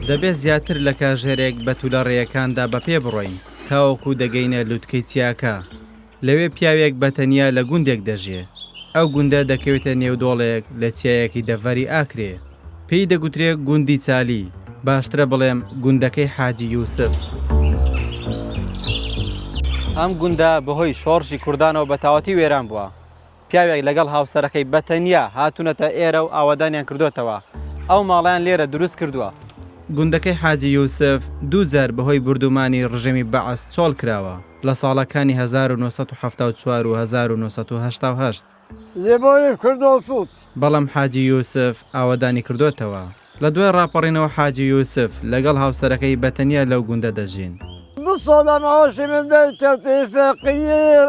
دەبێت زیاتر لە کاژێرێک بە تولە ڕێیەکاندا بە پێ بڕۆین تاوەکو دەگەینە لوتکەی چیاکە. لەوێ پیاوێک بە تەنیا لە گوندێک دەژێ. ئەو گوندە دەکەوێتە نێو دۆڵێک لە چیایەکی دەڤەری ئاکرێ. پێی دەگوترێ گوندی چالی، باشترە بڵێم گوندەکەی حاجی یوسف. ئەم گوندە بە هۆی شۆڕشی کوردانەوە بە تاواتی وێران بووە. پیاوێک لەگەڵ هاوسەرەکەی بە تەنیا هاتوونەتە ئێرە و ئاوەدانیان کردۆتەوە، ئەو ماڵەیان لێرە دروست کردووە. گوندەکەی حاجی یوسف دوو جار بە هۆی بوردومانی ڕژێمی بەعس چۆڵ کراوە، لە ساڵەکانی هەزار و نۆ سەد و حەفتا و چوار و هەزار و نۆ سەد و هەشتا و هەشت، لێبۆیش کردەوە سووت. بەڵام حاجی یوسف ئاوەدانی کردۆتەوە. لە دوای ڕاپەڕینەوە حاجی یوسف لەگەڵ هاوسەرەکەی بە تەنیا لەو گوندە دەژین. دو ساڵە مەعاشی من دەرکەوت ئی فەقیر.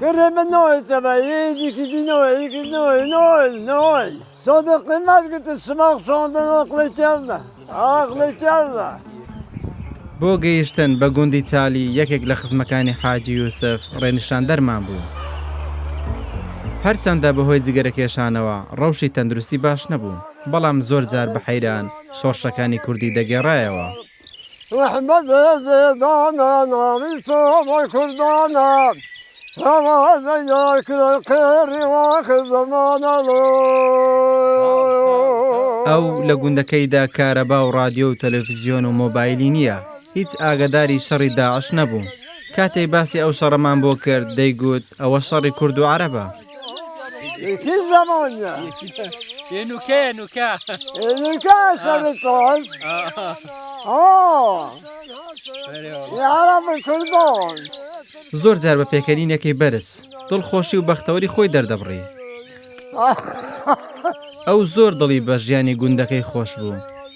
گەرێ بە نۆی تەبا یێ دیکی دی نۆی یکی نۆی نۆی نۆی سۆدە قیمەت گتە سماق شۆندە نۆقلە کێڵدە ئاقلە کێڵدە. بۆ گەیشتن بە گوندی چالی یەکێک لە خزمەکانی حاجی یوسف ڕێنیشاندەرمان بوو. هەرچەندە بەهۆی جگەرەکێشانەوە ڕەوشی تەندروستی باش نەبوو، بەڵام زۆر جار بە حەیران شۆڕشەکانی کوردی دەگێڕایەوە. رەحمەتێ بێدانە ناوی تۆ بۆ کوردانە هەوادە یار کرێ قێڕی واخ زەمانە ئەو لە گوندەکەیدا کارەبا و ڕادیۆ و تەلەفزیۆن و مۆبایلی نییە هیچ ئاگەداری شەڕی داعش نەبوو کاتێک باسی ئەو شەڕەمان بۆ کرد دەیگوت ئەوە شەڕی کورد و عەرەبە. زۆر جار بە پێکەنینەکەی بەرز دڵخۆشی و بەختەوەری خۆی دەردەبڕی. ئەو زۆر دڵی بە ژیانی گوندەکەی خۆش بوو.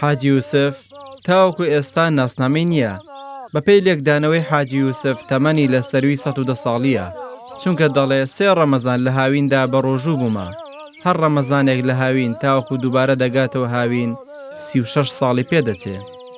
حاجی یوسف تاوەکو ئێستا ناسنامەی نییە، بەپێی لێکدانەوەی حاجی یوسف تەمەنی لە سەرووی سەد و دە ساڵییە، چونکە دەڵێ سێ ڕەمەزان لە هاویندا بە ڕۆژوو بوومە، هەر ڕەمەزانێک لە هاوین تاوەکو دووبارە دەگاتەوە هاوین سی و شەش ساڵی پێ دەچێ.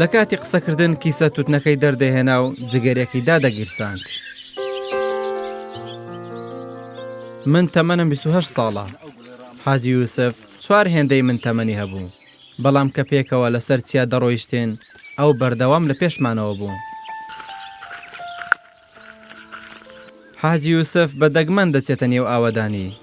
لە کاتی قسەکردن کیسە توتنەکەی دەردەهێنا و جگەرەکی دادەگیرساند. من تەمەنم 28 ساڵە. حاجی یوسف چوار هێندەی من تەمەنی هەبوو، بەڵام کە پێکەوە لەسەر چیا دەڕۆیشتین، ئەو بەردەوام لە پێشمانەوە بوو. حاجی یوسف بە دەگمەن دەچێتە نێو ئاوەدانی.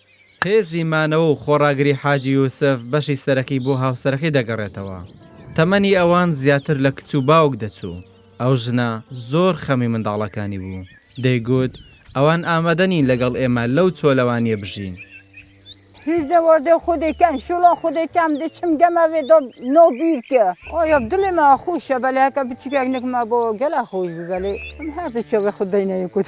هێزی مانەوە و خۆڕاگری حاجی یوسف بەشی سەرەکی بۆ هاوسەرەکەی دەگەڕێتەوە. تەمەنی ئەوان زیاتر لە کچ و باوک دەچوو. ئەو ژنە زۆر خەمی منداڵەکانی بوو. دەیگوت، ئەوان ئامادە نین لەگەڵ ئێمە لەو چۆلەوانییە بژین. هیردە وەردە خودێکان شوڵە خودێکان دچم گەمە وێ دۆ نۆ بیرکە. ئۆیۆب دلێ ما خوشە بەلێ هەکە بچوکێک نکمە بۆ گەلا خوش بی بەلێ ئەم هاتە چۆ وێ خود دەینە یکوت.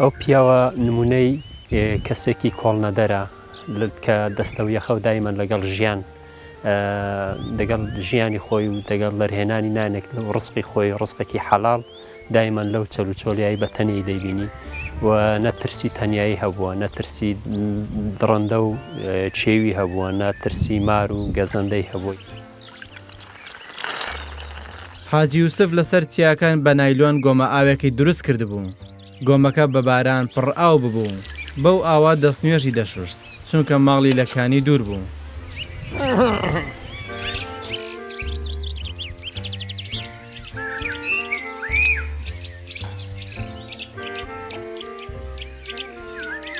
ئەو پیاوە نمونەی کەسێکی کۆڵنەدەرە کە دەستەو یەخەو دایمەن لەگەڵ ژیان دەگەڵ ژیانی خۆی و دەگەڵ لەرهێنانی نانێک لە ڕسقی خۆی ڕسقێکی حەڵال دایمەن لەو چەل و چۆلیایی بە تەنیایی دەیبینی و نەترسی تەنایی هەبووە نەترسی دڕندە و چێوی هەبووە نەترسی مار و گەزەندەی هەبووی. حاجی یوسف لەسەر چیاکان بە نایلۆن گۆمە ئاوێکی دروست کردبوو گۆمەکە بە باران پڕ ئاو ببوو بەو ئاوا دەست نوێژی دەشوشت چونکە ماڵی لە کانی دوور بوو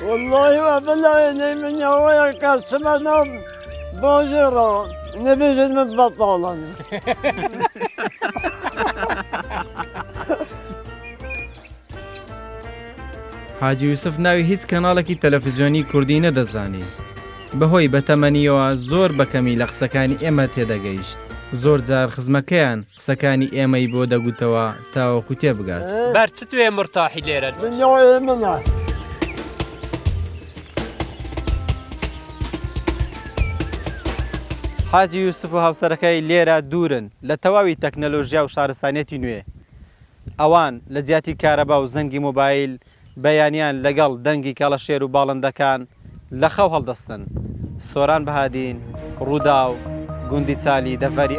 والله وابلا نەی منەوەیە کەسمە نەم باژێڕە نەبێژێت من بەتاڵم. حاجی یوسف ناوی هیچ کەناڵێکی تەلەفزیۆنی کوردی نەدەزانی. بەهۆی بەتەمەنیەوە زۆر بەکەمی لە قسەکانی ئێمە تێدەگەیشت. زۆر جار خزمەکەیان قسەکانی ئێمەی بۆ دەگوتەوە تاوەکو تێبگات. بەر چ توێ مرتاحی لێرە. دنیاێ منە. حاجی یوسف و هاوسەرەکەی لێرە دوورن لە تەواوی تەکنەلۆژیا و شارستانیەتی نوێ. ئەوان لە جیاتی کارەبا و زەنگی مۆبایل، بەیانیان لەگەڵ دەنگی کەڵەشێر و باڵندەکان لە خەو هەڵدەستن. سۆران بەهادین، رووداو، گوندی چالی دەڤەری.